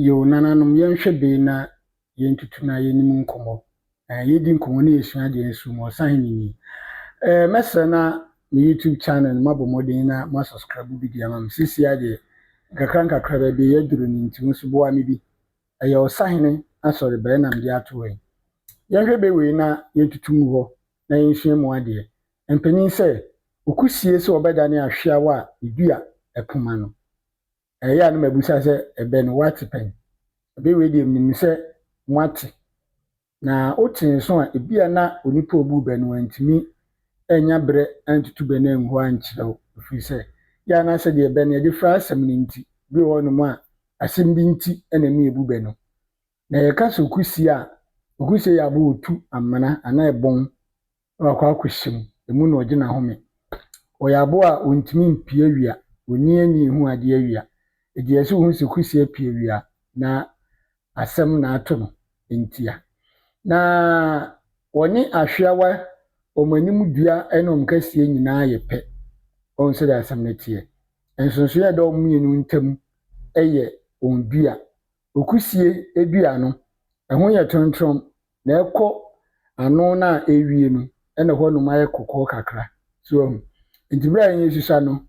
Yo, nananom, yɛnhwɛ bee na yentutu na yenni mu nkɔmmɔ. Ɛɛ, yedi nkɔmmɔ na yesua ade nso mu. Ɔsahene ni. Ɛɛ, mɛsrɛ na me YouTube channel no moabɔ mmɔden na moasɔskraibo bi de ama me. Seesei ara deɛ, nkakrankakra baabi a yɛaduru no nti, wo nso boa me bi. Ɛyɛ Ɔsahene Asɔre bɛn na mede ato hɔ yi? Yɛnhwɛ bee wei na yentutu ngu hɔ na yensua mu adeɛ. Ɛmpanyin sɛ, Oku sie sɛ ɔbɛdane ahweawa a edua ɛpo ma no. Ɛyɛ a na mabisa sɛ, Ɛbɛn woate pɛn? Ɛbɛn wei deɛ menim sɛ moate. Na wote nso a, ebia na onipa a ɔbuu bɛ no wantumi annya berɛ antutu bɛ no angu hɔ ankyerɛ wo, ɛfiri sɛ yɛ a na sɛdeɛ bɛ no yɛde fra asɛm no nti, bi wɔ hɔnom a asɛm bi nti na ɛma yɛbu bɛ no. Na yɛka sɛ okusie a, okusie yɛ aboɔ a ɔtu amena anaa ɛbɔn wakɔ akɔhyɛ mu, ɛmu na ɔgye n'ahome. Ɔyɛ aboa a ɔntumi mpue awia, ɔnyin ani nhu adeɛ awia. Ɛgyeɛ sɛ ɔhu sɛ Kusi apue awia na asɛm na ato no ntia. Na wɔne Ahweawa, wɔn anim dua ne wɔn kaseɛ nyinaa yɛ pɛ. Wahu sɛdeɛ asɛm no teɛ. Nsonsonoeɛ a ɛda wɔn mmienu ntam yɛ wɔn dua Okusie dua no, ɛho yɛ trontrom, na ɛkɔ ano no a ɛrewie no, na hɔnom ayɛ kɔkɔɔ kakra. So wahu? Enti berɛ a yɛn asusua no,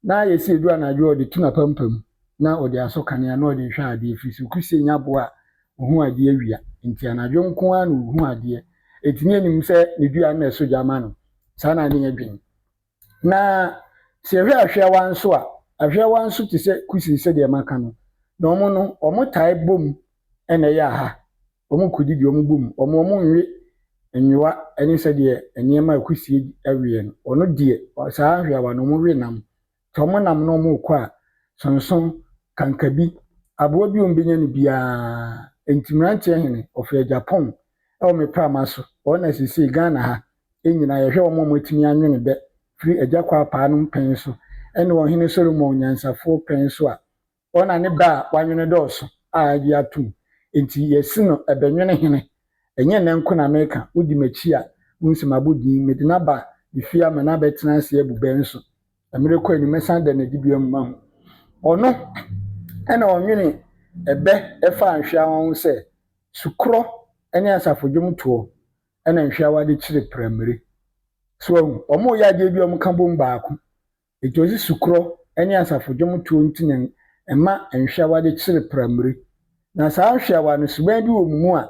na yɛsi aduru anadwo a ɔde tu n'apampam, na ɔde asɔ kanea, na ɔde rehwɛ adeɛ, ɛfiri sɛ okusie nya boɔ a ɔhu adeɛ awia, enti anadwo nko ara na ɔhu adeɛ. Enti na yɛnim sɛ ne dua no na ɛsɔ gya ma no. Saa na na yɛdwen. Na sɛ hwɛ ahweawa nso a, ahweawa nso te sɛ kusiri sɛdeɛ maka no. Na wɔn no, wɔtae bom na ɛyɛ aha. Wɔkodidi, wɔbɔ mu, wɔn wɔnwe nwowa ne sɛdeɛ nneɛma a kusie weɛ no. Wɔn deɛ, saa ahweawa no, wɔwe nam. Nti wɔnam na wɔkɔ a, sonso, kankabi, aboa bi a wɔbɛnya no biara. Nti mmeranteɛ hene, wɔfrɛ Japan wɔ me prama so. Wɔn na seesei Ghana ha, Yɛn nyinaa yɛhwɛ wɔn a wɔatumi anwene dɛ firi Agya Kwaapaa nom pɛn so ne Ɔhene Solomon Nyansafoɔ pɛn so a, wɔn na ne bɛ a wɔanwene dɔɔso a agye atom. Enti yɛse no Ɛbɛnwene Hene. Ɛnyɛ nnɛ nko na meka, wodi m'akyi a, wohu sɛ mabɔ din. Mede no aba ne fie ama no abɛtena ase abu bɛ nso. Mmerɛ kɔ anim, mɛsan da n'adibea mu mahu. Ɔno na ɔnwene ɛbɛ faa nhweawa ho sɛ, Sukorɔ ne asafodwomtoɔ. na nhweawa de kyere prammire. So wahu? Wɔreyɛ adeɛ bi a wɔka bom baako. Enti wɔsi sukorɔ ne asafo dwomtoɔ nti na ɛma nhweawa de kyere prammire. Na saa nhweawa no, suban bi wɔ mu mu a,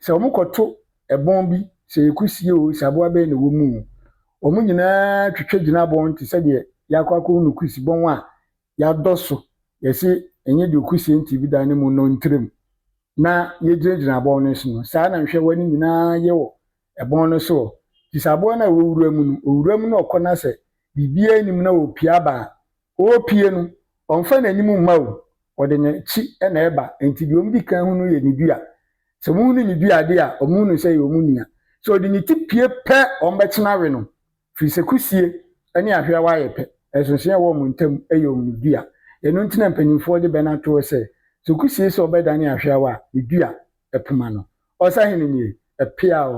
sɛ wɔkɔto ɛbɔn bi, sɛ ɛyɛ kusie o, sɛ aboa bɛn na ɛwɔ mu o, wɔn nyinaa twitwa gyina bɔn te sɛ deɛ yɛakɔ akɔhu no kusibɔn a yɛadɔ so, yɛse ɛnyɛ deɛ ɔku sie nti ebida ne mu nnɔ ntirim na yɛgyinagyina abɔn no so no, saa na nhwɛwa no nyinaa yɛ wɔ ɛbɔn no soɔ. Nti sɛ aboa no a ɛwɔ wura mu no, ɔwura mu na ɔkɔ na sɛ biribiara nnim na ɔrepie aba a, ɔrepie no, ɔmfa n'anim mma o, ɔde n'akyi na ɛba, nti deɛ wɔdi kan hu no yɛ ne dua. Sɛ wɔhunu ne dua adeɛ a, wɔhunu sɛ ɛyɛ wɔn nua. Sɛ ɔde ne ti pie pɛ, wɔbɛkyena awe no. Ɛfiri sɛ kusie ne ahweawa yɛ pɛ, ɛsonsono a ɛwɔ wɔn ntam yɛ wɔn dua. Ɛno nti na mpanimfoɔ de bɛ no atoɔ sɛ, Sɛ okusie sɛ ɔbɛdane ahweawa a, ne dua, poma no. Ɔsahene nie, pea o.